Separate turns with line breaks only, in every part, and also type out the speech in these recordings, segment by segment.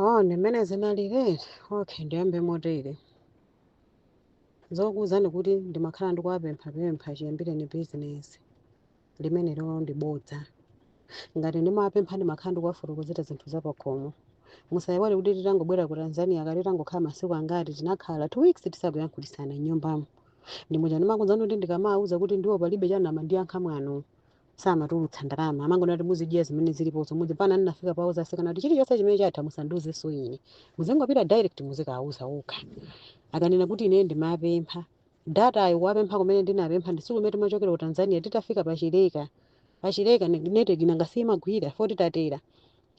Oh, ndi mmene zinaliri? Okay, ndiyambe motere. Zokuwuzani kuti ndimakhala ndikuwapemphapempha chiyambireni bizinesi limene lero ndi bodza. Ngati ndimawapempha ndimakhala ndikuwafotokozera zinthu zapakhomo. Musayiwale kuti titangobwera ku Tanzania kaya titangokhala masiku angati tinakhala two weeks tisakuyankhulisana m'nyumbamo. Ndi muja ndimakuwuzani kuti ndikamawawuza kuti ndiwo palibe amandiyankha mwano. samatulutsa ndalama amangonena kuti muzidya zimene zilipozo mudzi mpaka ndinafika powauza atsikana kuti chilichonse chimene chatha musandiuzenso ine muzingopita direct muzikawauza okha akanena kuti ine ndimapempha data ayi kuwapempha kumene ndinapempha ndisiku limene timachokera ku tanzania titafika pachileka pachileka network inanga siyimagwira poti titatera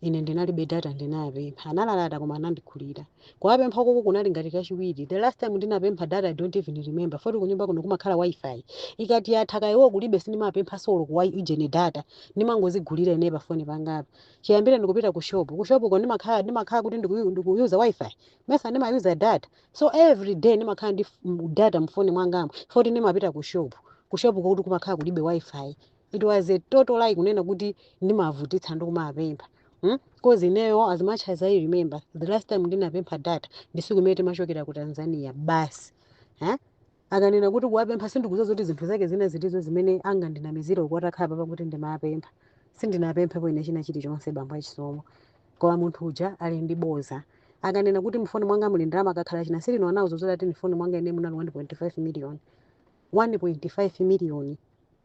Ine ndinalibe data ndinapempha. Analalata koma anandigulira. Kuwapempha koko kunali ngati kachiwiri. The last time ndinapempha data I don't even remember. Poti kunyumba kuno kumakhala wifi. Ikati yatha kaya iwo kulibe sindimapemphanso olo ku wi- ujeni data. Ndimangozigulira ine pa foni yangayo. Chiyambire ndikupita ku shop. Ku shop ko ndimakhala ndimakhala kuti ndiku- ndikuyuza wifi. Mesa ndimayuza data. So every day ndimakhala ndi f- m- data mu foni mwangamo. Poti ndimapita ku shop. Ku shop ko kuti kumakhala kulibe wifi. it was a total lie kunena kuti ndimavutitsa ndi kumapempha Hmm? Cause ineyo as much as I remember the last time ndinapempha data ndi tsiku limene timachokera ku Tanzania basi eh? akanena kuti kuwapempha sindikudziwa zoti zinthu zake zina zilizonse zimene angandinamizire uko atakhala apa kuti ndimapempha sindinapemphepo ine china chilichonse bambo achisomo koma munthu uja ali ndi bodza akanena kuti mfoni mwanga muli ndalama akakhala che Silino anawauza zoti ati mfoni mwanga ine munali 1.5 million 1.5 million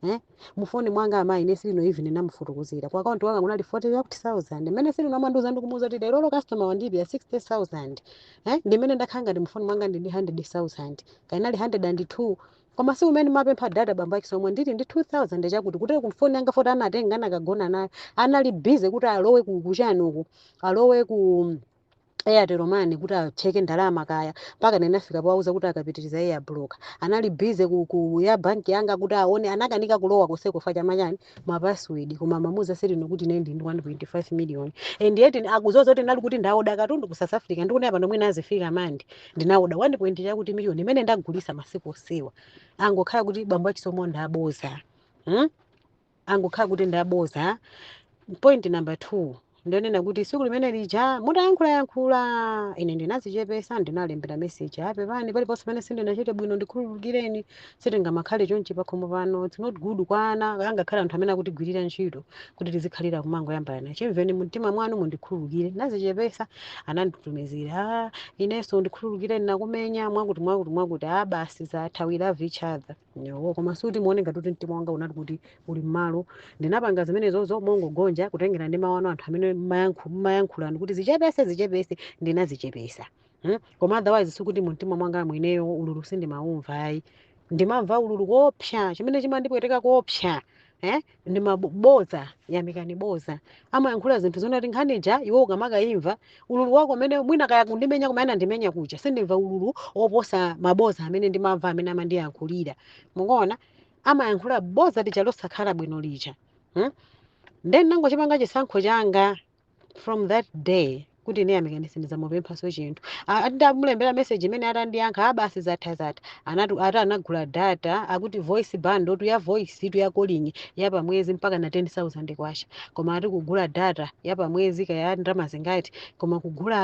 Eh? Mufoni mwanga amayi ine Silino even ndinamufotokozera. Ku account yanga kunali 40000. Mene Silino amandiuza ndikumuuza kuti lero lo customer wandipeya 60000. Eh? Ndimene ndakhala ndi mufoni mwanga ndi 100000. Kaya inali 102. Koma tsiku limene ndimapempha data bambo a Chisomo ndili ndi 2000 chakuti kuti kumfoni yanga poti anatenga anakagona nayo. Anali busy kuti alowe ku chani uku. Alowe ku Airtel Money kuti acheke ndalama kaya mpaka ndinafika powauza kuti akapitiriza ayi blocka anali busy ku, ku ya banki yanga kuti aone anakanika kulowa konseko chifukwa cha ma chani ma password koma amamuuza Silino kuti ine ndili ndi 1.5 million and yet akudziwa zoti kuti ndinali kuti ndaoda katundu ku south africa ndikuti up and down nazo zifikama ndi ndinaoda 1 point chakuti million imene ndagulisa masiku onsewa angokhala kuti bambo achisomo ndi abodza hmm? angokhala kuti ndi abodza point number two ndi yonena kuti tsiku limene lija mutayankhulayankhula ine ndinazichepesa ndinawalembera meseji a pepani paliponse pamene sindinachite bwino ndikhululukireni sitingamakhale chonchi pakhomo pano its not good kwa ana ngakhale anthu amene akutigwirira ntchito kuti tizikhalira kumangoyambana chimvereni mumtima mwanu mundikhululukire ndinazichepesa ananditumizira "Ah, inenso ndikhululukireni ndinakumenya mwakuti mwakuti mwakuti a basi zatha we love each other Yo, koma sikuti muone ngati kuti mtima wanga unati kuti uli mmalo ndinapanga zimenezozo mongogonja kutengera ndi mawu anu anthu amene mmayankhu- mmayankhulani kuti zichepese zichepese ndinazichepesa hmm? koma otherwise sikuti mumtima mwanga mwineyo ululu sindimawumva ayi ndimamva ululu koopsa chimene chimandipweteka koopsa eh ndi maboza yamikani boza amayankhula zinthu zonati nkhani ija iwe ukamakayimva ululu wako amene mwina kaya kundimenya kuma anandimenya kuja sindimva ululu oposa maboza amene ndimamva amene amandiyankhulira mukuona amayankhula boza lija losakhala bwino lija hmm? nde nangochipanga chisankho changa from that day kuti ine yamikani sindidzamupemphanso chinthu A- ati ndamulembera message imene atandiyankha abasi zatha zatha anati ati anagula data akuti voice bundle tu ya voice tu ya calling ya pamwezi mpaka na 10000 kwacha koma ati kugula data ya pamwezi kaya ndalama zingati koma kugula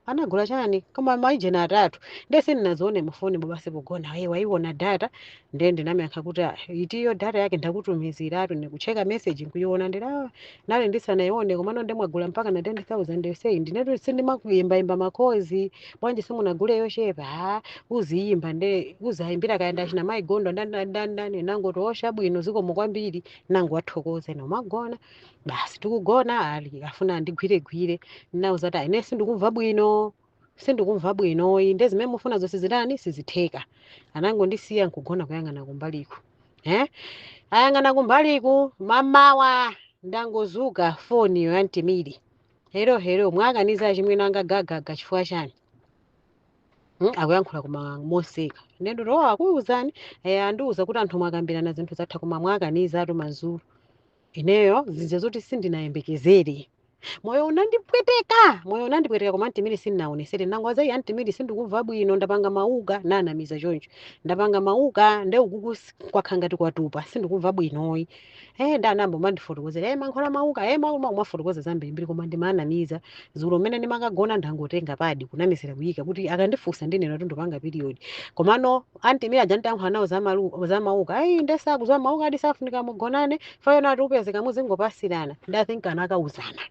anagula chani koma maijeni atatu ndiye sindinazione mufoni basi pogona ayi waiona data ndiye ndinamyankha kuti "Ah, itiyo data yake ndakutumizirani ndikucheka meseji nkuiona ndiye "Ah, nali ndisanayione komano nde mwagula mpaka na 10000 sei ndinetu sindimakuyimbayimba makozi bwanji simunagule yochepa "Ah, uziyimba nde uzayimbira kaya ndachina mayigondo ndandandandani nangoti oh bwino zikomo kwambiri nangowathokoza nkumagona basi tikugona ali afuna andigwiregwire ndinauza kuti ine sindikumva bwino sindikumva bwino iyi nde zimene mufuna zonse zitani sizitheka anangondisiya nkugona kuyang'ana kumbaliku eh? ayang'ana kumbaliku mamawa ndangozuka foniyo ya Aunt Mia hello hello mwakaniza achimwene anga gagaga chifukwa chani Mm, akuyankhula koma moseka nde ndati o akuuzani eh, andiuza kuti anthu mwakambirana zinthu zatha koma mwakaniza ati madzulo ineyo zija zoti sindinayembekezere moyo unandipweteka moyo unandipweteka koma Aunt Mia sindinaonetsere nangouza iyi Aunt Mia sindikumva bwino ndapanga mauka nanamiza choncho ndapanga mauka nde ukuku s- kwakhala ngati kwatupa sindikumva bwinoyi e nde anayamba kumandifotokozera e mankhwala mauka e mauma kumafotokoza zambirimbiri koma ndimanamiza dzulo mmene ndimakagona ndangotenga padi kunamizira kuyika kuti akandifunsa ndinena kuti ndipanga period komano Aunt Mia aja ntayankhula nawo za malu- za mauka ayi nde sakuziwa mauka ati safunika mugonane chifukwa ati upezeka muzingopasirana nde i think anakauzana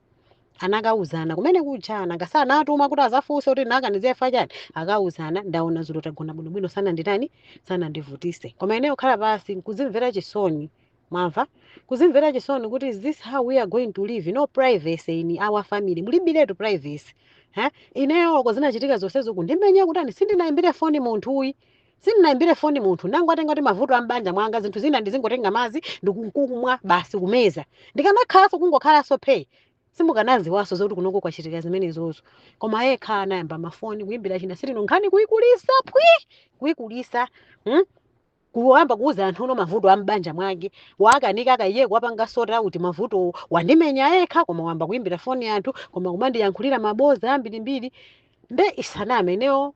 anakauzana kumene kuja ngati anatuma kuti azafunse kuti nakaniza chifukwa chani akauzana ndaona dzulo tagona bwinobwino sananditani sanandivutise koma ineyo kukhala pansi nkuzimvera chisoni mwamva? kuzimvera chisoni kuti is this how we are going to live no privacy in our family mulibiretu privacy ha ineyo oko zinachitika zonsezo kundimenya kutani sindinayimbire foni munthuyi sindinayimbire foni munthu nangotenga kuti mavuto ambanja mwanga zinthu zina ndizingotenga madzi ndikumwa basi kumeza ndikanakhalanso kungokhalanso phe simukanaziwaso zoti kunoko kwachitika zimenezozo koma yekha anayamba mafoni kuyimbira china sis tino nkhani kuyikulisa pwi kuyikulisa hmm? kuyamba kuuza anthu mavuto a m'banja mwake wakanika akaiye kuwapanga sort out mavutowo wandimenya yekha koma wayamba kuimbira foni anthu koma kumandiyankhulira maboza ambirimbiri nde ndisaname ineyo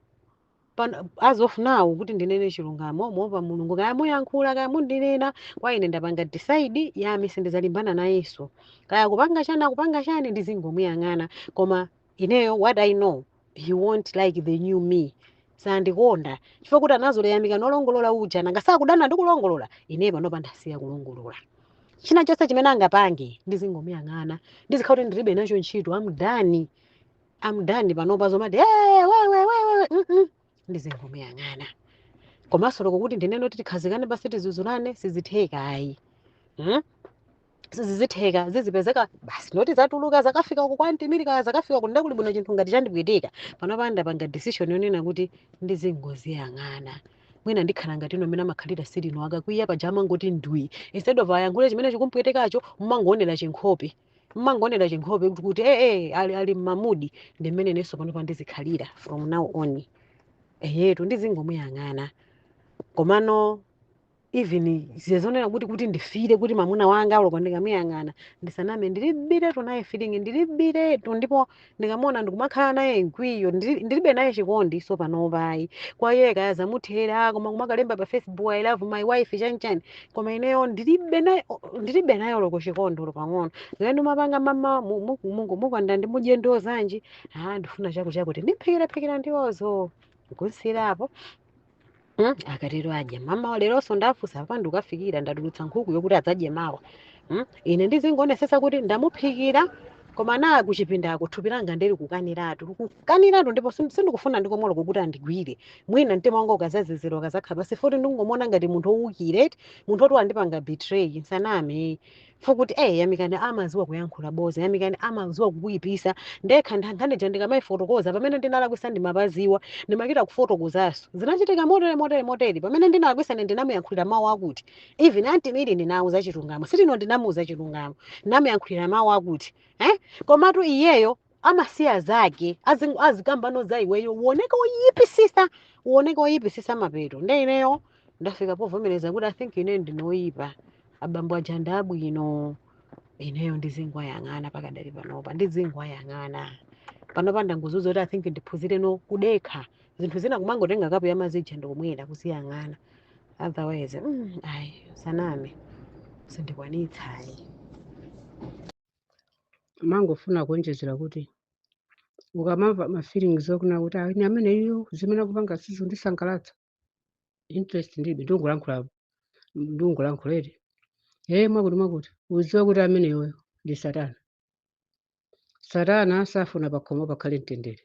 pano- as of now kuti ndinene chilungamo moopa mulungu kaya muyankhula kaya mundinena kwa ine ndapanga decide yami sindizalimbana nayenso kaya akupanga chani akupanga chani ndizingomuyang'ana koma ineyo what i know he won't like the new me sandikonda chifukwa choti anazolowera Yamika wolongolola uja nanga sakudana ndi kulongolola ineyo panopa ndasiya kulongolola china chonse chimene angapange ndizingomuyang'ana ndizikhala kuti ndilibe nacho ntchito andani andani panopa zomati "Eh, wewe wewe mm -mm." ndizingomuyang'ana komanso oloko kuti ndinene kuti tikhazikane basi tizuzulane sizitheka ayi hmm? sizizitheka zizipezeka basi moti zatuluka zakafika uku kwa anti Miri kaya zakafika uku nde kuli bwino chinthu ngati chandipweteka panopa ndapanga decision yonena kuti ndizingoziyang'ana mwina ndikhala ngati ino mmene amakhalira silino akakwiya paja amangoti ndwi instead of ayankhule chimene chikumpwetekacho mmangoonera chinkhope mmangoonera chinkhope kuti kuti ee eh, ali, ali m'ma mood ndi mmene inenso panopa ndizikhalira from now on eyetu ndizingomuyang'ana komano even zija zonena kuti kuti ndi feel-e kuti mamuna wanga oloko ndikamuyang'ana ndisaname ndilibiretu naye feeling ndilibiretu ndipo ndikamuona ndikumakhala naye mkwiyo ndili- ndilibe naye chikondi so panopa ayi kwa iye kaya zamuthera koma kumakalemba pa facebook i love my wife chanichani koma ineyo ndilibe naye ndilibe naye oloko chikondi olo pang'ono zimene ndimapanga mamawa mu- mu- mu- mukonda mudye ndiwo zanji ah ndifuna chakuchakuti ndimphikiraphikira ndiwozo kusiirapo Mm, akatero adya mamawa leronso ndafunsa apa ndikukaphikira ndatulutsa nkhuku yokuti adzadye mawa mm, ine ndizingonesesa kuti ndamuphikira koma na kuchipindako thupi langa likukaniratu likukaniratu ndipo sin- sindikufuna nkomwe oloko kuti andigwire mwina mtima wanga ukazazizira ukazakhala pansi futi ndingomona ngati munthu owukira munthu oti wandipanga betray nsaname fukuti eh yamikani amaziwa kuyankhula boza yamikani amaziwa kukuyipisa nde nkhani ija ndikamaifotokoza pamene ndinalakwisa ndimapaziwa ndimachita kufotokozaso zinachitika motere motere motere pamene ndinalakwisa ne ndinamuyankhulira mawu akuti even anti Miri ndinauza chilungamo sitino ndinamuuza chilungamo ndinamuyankhulira mawu akuti eh komatu iyeyo amasiya zake azingo azikambano za iweyo uoneke oyipisisa uoneke oyipisisa mapeto ake nde ineyo ndafika povomereza kuti i think ineyo ndine oyipa abambo aja ndi abwino ineyo ndizingwayang'ana pakadali panopa ndizingwayang'ana panopa ndangoziuza kuti i think ndiphunzireno kudekha zinthu zina kumangotenga kapu ya mazi ija ndikumwera kuziyang'ana otherwise mm, ayi nsaname sindikwanitsa ayi
amangofuna kuonjezera kuti ukamamva ma feelings onena kuti "Ah, ine amene iyo zimene akupanga sizindisangalatsa interest ndilibe ndingolankhula ndingolankhula ere ee mwakuti mwakuti uzidziwa kuti ameneyoyo ndi satana satana safuna pakhomo pakhale mtendere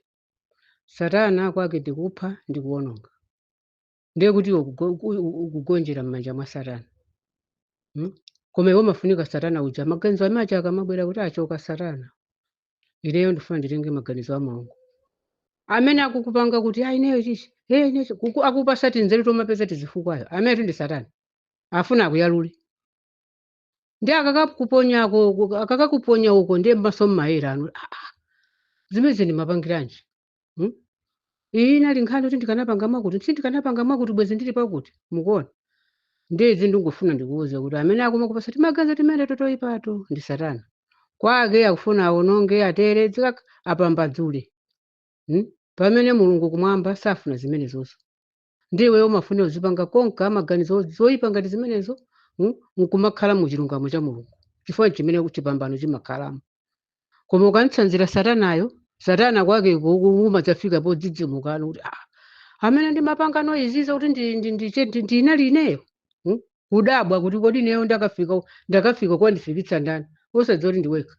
satana kwake ndikupha ndi kuwononga ndiye kuti iwe ukugo- uku- uku- ukugonjera m'manja mwa satana mm? koma iwe umafunika satana uja maganizo amache akamabwera kuti choka satana ineyo ndifuna nditenge maganizo a mulungu amene akukupanga kuti ayi ineyo chichi hey, ineyo chi-" kuku- akupasa tinzeru tomapeza tizifukwayo amenetu ndi satana afuna akuyalule ndi akakakuponya ako- akakakuponya uko ndiye m'maso mmayerano "Ah, ah, zimenezi nimapangiranji Hmm? Iyi inali nkhani kuti ndikanapanga mwakuti, sindikanapanga mwakuti bwezi ndili pakuti. Mukuona? Ndiye izi ndingofuna ndikuwuze kuti amene akumakupasa timaganizo timene totoyipato ndi Satana. Kwake akufuna awononge, atere, dzikak apambadzule. Hmm? Pamene Mulungu kumwamba safuna zimenezozo. ndiye iweyo umafunira uzipanga konka maganizo oyipa ngati zimenezo mm, nkumakhala mu chilungamo cha mulungu chifukwa chimene chipambano chimakhalamo koma ukamutsanzira satanayo satana kwake umadzafika podzidzimukano kuti ah, amene ndimapangano izizi kuti ndi- ndi- ndiche- ndi- ndinali ineyo mm, kudabwa kuti kodi ineyo ndakafika ndakafika kandifikitsa ndani osadziwa kuti ndiwekha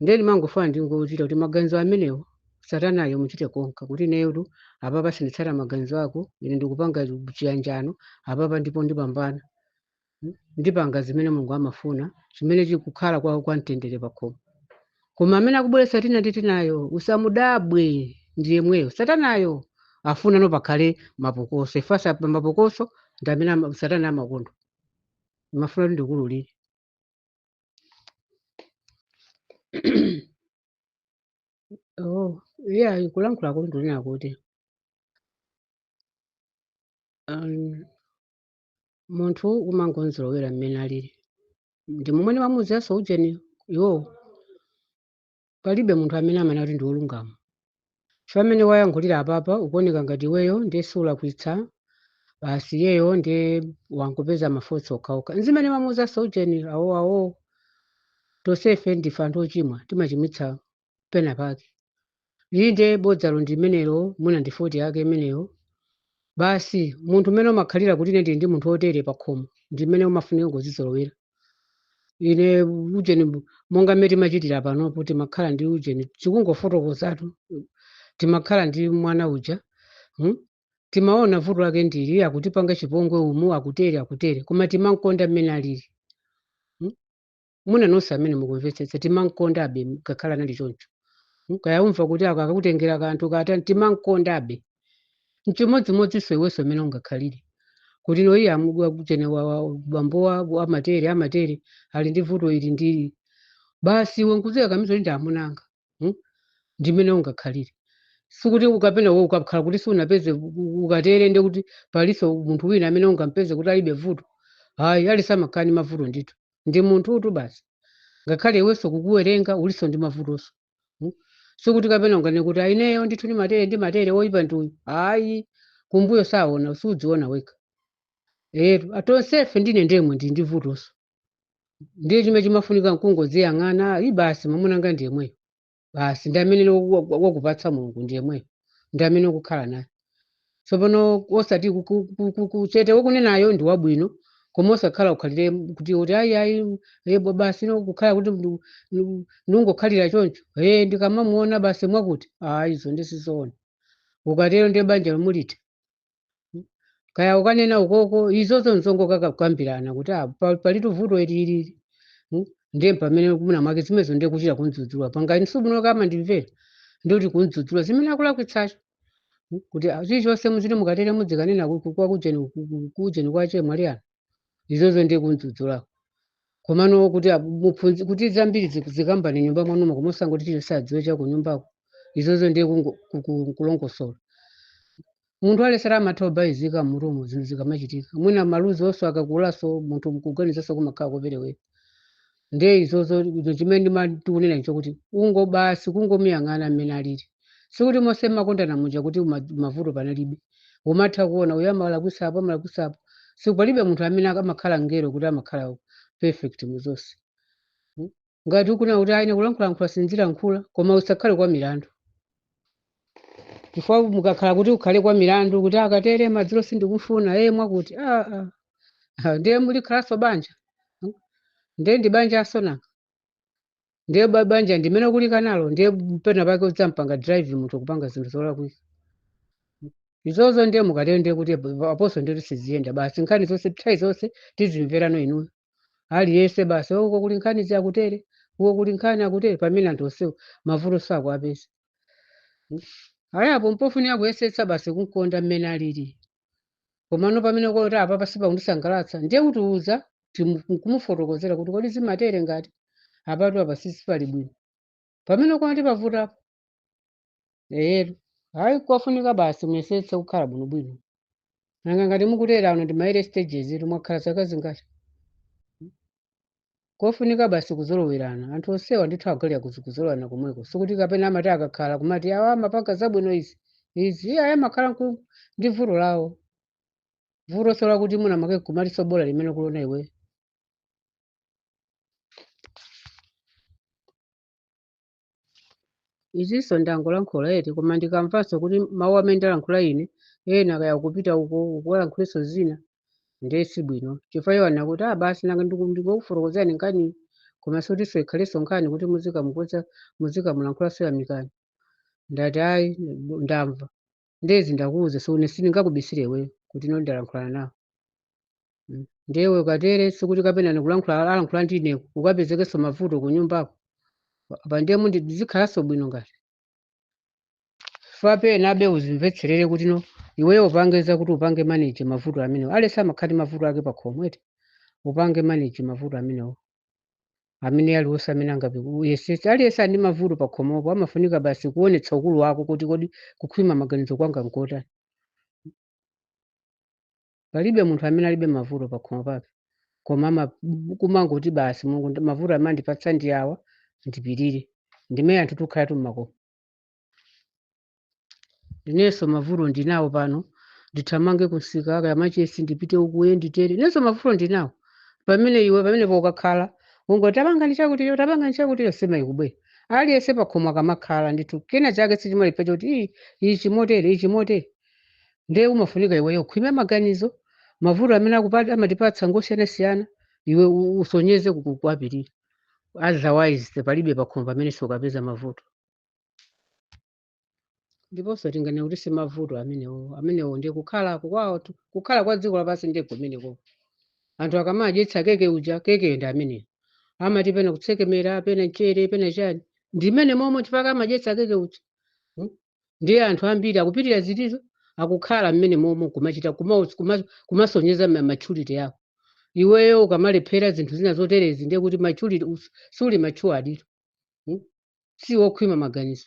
ndiye ndimangofuna ndingokuuza kuti maganizo amenewo satanayo muchite konka kuti ineyotu apapa sinditsata maganizo ako ine ndikupanga chiyanjano apapa ndipo ndipambana Mm. ndipanga zimene mulungu amafuna chimene chikukhala kwa, kwa mtendere pakhomo koma amene akubweretsa tina ndi tinayo usamudabwe ndi yemweyo satanayo afunano pakhale mapokoso chifukwa mapokoso ndi amene ama- satana amakonda mafuna kuti ndikululire oh iya kulankhula kuli ndunena kuti um, munthu umangomuzolowera mmene alili ndi momwe ndimamuuziranso ujeni iwowo Palibe munthu amene amanena kuti ndi wolungama. Chifukwa mmene wayankhulira apapa ukuoneka ngati iweyo ndiye sulakwitsa basi iyeyo ndiye wangopeza mafoti okhaokha. N'zimene ndamuuzanso ujeni awo awo. Tonsefe ndife anthu ochimwa timachimwitsa pena pake. Inde bodzalo ndi limenelo mwina ndi foti yake imeneyo. Basi munthu mmene umakhalira kuti ine ndili ndi munthu wotere pakhomo ndi mmene umafunika kungozizolowera. ine ujeni bu- monga mmene timachitira panopo timakhala ndi ujeni tikungofotokozatu timakhala ndi mwana uja hmm? timaona vuto lake ndili akutipanga chipongwe umu akutere akutere koma timamkonda mmene alili hmm? muna nonse amene mukumvetsetsa timamkondabe ngakhale anali choncho hmm? kaya umva kuti ako akutengera kanthu kata timamkondabe N'chimodzimodzinso iwenso mmene ungakhalire. Kuti no iye amu ujeni wa wa- bambo wako amatere, amatere ali ndi vuto ili ndi ili. Basi iwe nkudzikakamiza kuti ndi amuna anga. Hmm? Ndi mmene ungakhalire. Sikuti kapena iwe ukakhala kuti sunapeze u- u- ukatere ndi kuti palinso munthu wina amene ungampeze kuti alibe vuto. Hayi, aliyense amakhala ndi mavuto ndithu. Ndi munthutu basi. Ngakhale iwenso kukuwerenga ulinso ndi mavutonso. Hmm? Sikuti kapena unganene kuti a ineyo ndithu ndimatere ndimatere oyipa ndi uyu. Ayi, kumbuyo saona, sudziona wekha. Eetu, tonsefe ndi inenso ndemwe ndili ndi vutonso. Ndiye chimene chimafunika nkungodziyang'ana, ayi basi mwamuna wanga ndi yemweyo. Basi ndi amene wa- wa- wakupatsa Mulungu ndi yemweyo. Ndi amene ukukhala naye. tsopano osati ku- ku- ku- ku- ku- chete wokunenayo ndi wabwino koma osakhala ukhalire kuti kuti ayi ayi e basi no kukhala kuti ndu- ndu- ndungokhalira choncho e ndikamamuona basi mwakuti ayi izo ndi sizoona ukatero ndiye banja lomwe litha kaya ukanene ukoko izozo nzongokakambirana kuti ah, pa- palitu vuto ili ndi ili Mm, ndiye pamene muna mwake zimenezo ndiye kuchita kumdzudzula pangani sibuno akamandimvera ndikuti kumdzudzula zimene akulakwitsacho Hmm? kuti ah, chilichonse muziti mukatere mudzikanena ku- ku- kwa kujeni ku- ku- kujeni kwa chemwali anu izozo ndi kumdzudzulako komano kuti abu- muphunzi- kuti zambiri ziku- zikambani m'nyumba mwanumo koma osangoti chilichonse adziwe cha kunyumbako izozo ndiye kungo- ku- ku- kulongosola munthu aledzera amatha kubalalika mmutumo zinthu zikamachitika mwina maluzi onso akakulaso munthu kuganizaso kumakhala koperewera ndiye izozo izo chimene ndima- tikunena icho kuti ungo basi kungomuyang'ana mmene alili sikuti monse mmakondana muja kuti ma- mavuto panalibe umatha kuona uyo amalakwisapo amalakwisapo sikuti palibe munthu amene ak- amakhala mngelo kuti amakhala perfect mu zonse Mm. ngati ukunena kuti a ine kulankhulalankhula sindilankhula koma usakhale kwa milandu chifukwa mukakhala kuti ukhale kwa milandu kuti akatere madzulo sindikufuna ee mwakuti ah, ah. Ah, ndiye mulikhalanso banja Hmm? ndiye ndi banjanso nanga ndiye ba- banja ndi mmene ukulikanalo ndiye pena pake udzampanga drive munthu kupanga zinthu zolakwika izozo ndiye mukatero ndiye kuti apo- aponso ndiye kuti siziyenda basi nkhani zonse nthawi zonse tizimverano inuyo aliyense basi uko kuli nkhani zakutere uko kuli nkhani akutere pamene anthu onsewo mavuto sakuwapeza ayi apo mpofunika kuyesetsa basi kumkonda mmene alili komano pamene kuti apa pasipa kundisangalatsa ndiye kutiuza kumufotokozera kuti kodi zimatere ngati apatu apa sisi pali bwino pamene kwati pavutapo eyetu hayi kofunika basi muyesetse kukhala bwinobwino nanga ngati mukutera ano ndi maere stages ito mwakhala zaka zingati kofunika basi kuzolowerana anthu onsewa ndithu adalira kuzi kuzolowerana komweko sikuti kapena amati akakhala kumati awa amapanga zabwino izi izi ayi amakhala nku- ndi vuto lawo vutoso lakuti mwina make kumaliso bola limene kulona iwe izinso ndangolankhula eti koma ndikamvanso kuti mawu amene ndalankhula ine ena kaya kupita uko ukuwalankhulenso zina ndiye si bwino chifukwa iwo anena kuti ah basi nanga ndiku- ndikukufotokozerani nkhani koma osatinso ikhalenso nkhani kuti muzikamukonza muzikamulankhula soyamikani ndati ayi ndamva nde izi ndakuuza so ine sindingakubisire iweyo kuti ino ndalankhulana nawo Mm. ndiye iwe ukatere sikuti kapena ndikulankhula alankhula ndi ine ukapezekenso mavuto ku nyumbako apa ndiye mundi zikhalanso bwino ngati kapena abe uzimvetserere kuti no iweyo upange zakuti upange manage mavuto amenewo aliyense amakhala ndi mavuto ake pakhomo eti upange manage mavuto amenewo amene aliwonse amene angakuyesese aliyense ali ndi mavuto pa khomopo amafunika basi kuonetsa ukulu wako kuti kodi kukhwima maganizo kwanga nkotani palibe munthu amene alibe mavuto pa khomo pake koma ama- kumangoti basi mulungu ndi- mavuto amene andipatsa ndi awa ndipirire ndimene anthu tukhalatu mmakomo inenso mavuto ndinawo pano ndithamange kunsika kaya machesi ndipite uku nditere inenso mavuto ndinawo pamene iwe pamenepo ukakhala ungoti tapangani chakuticho tapangani chakuticho nsima ikubwera aliyense pakhomo akamakhala ndithu kena chake sichimalephera choti "Ii, ichi motere ichi motere nde umafunika iweyo ukhwime maganizo mavuto amene akupa- amatipatsa ngosiyanasiyana iwe u- usonyeze ku- kuwapirira otherwise palibe pakhomo pamene sukapeza mavuto ndiponso tinganena kuti si mavuto amenewo amenewo ndiye kukhala kwawo tu- kukhala kwa dziko lapansi ndiye kumeneko anthu akamadyetsa keke uja kekeyo ndi ameneyo amati pena kutsekemera pena mchere pena chani ndi mmene momwe chifukwa amadyetsa keke uja Mm. ndiye anthu ambiri akupirira zinthuzo akukhala mmene momwe kumachita kuma- kuma- kumasonyeza ma- maturity yawo iweyo ukamalephera zinthu zina zoterezi ndiye kuti maturity us- suli mature aditu hmm? si wokhwima maganizo